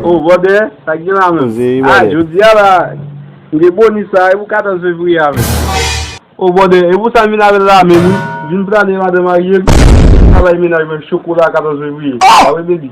Oh bòdè, sa k gen la menm? Ah jodi a la, m gen boni sa a, e pou 14 fevriye a menm? Oh bòdè, e pou sa m vin avè l la a menm wi? Vin prale madan marye m, travay menaj mwen, chokola 14 fevriye, sa w vle di?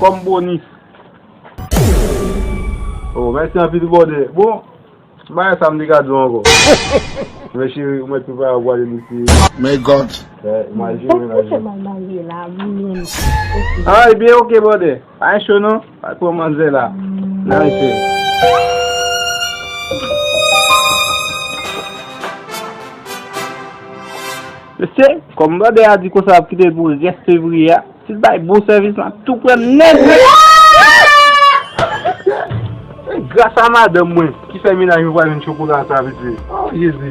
Kòm bonis. Oh mèsi anpil bòdè. Bon bagay sa m te ka di w ankò. Men cheri ou mèt prepare pou ale lite. May God. Bon ki fè mal marye la wi menm ok. Ah ebyen ok bòdè. Pa gen cho non. Al pran manzè la. Nan men cheri. Mesye kòm bòdè a di konsa l ap kite l pou rès fevriye a. Sil bay bon sèvis la tou pran nèt wi. Se gras a madanm mwen ki fè minaj mwen pral jwenn chokola sa mesye oh jezi.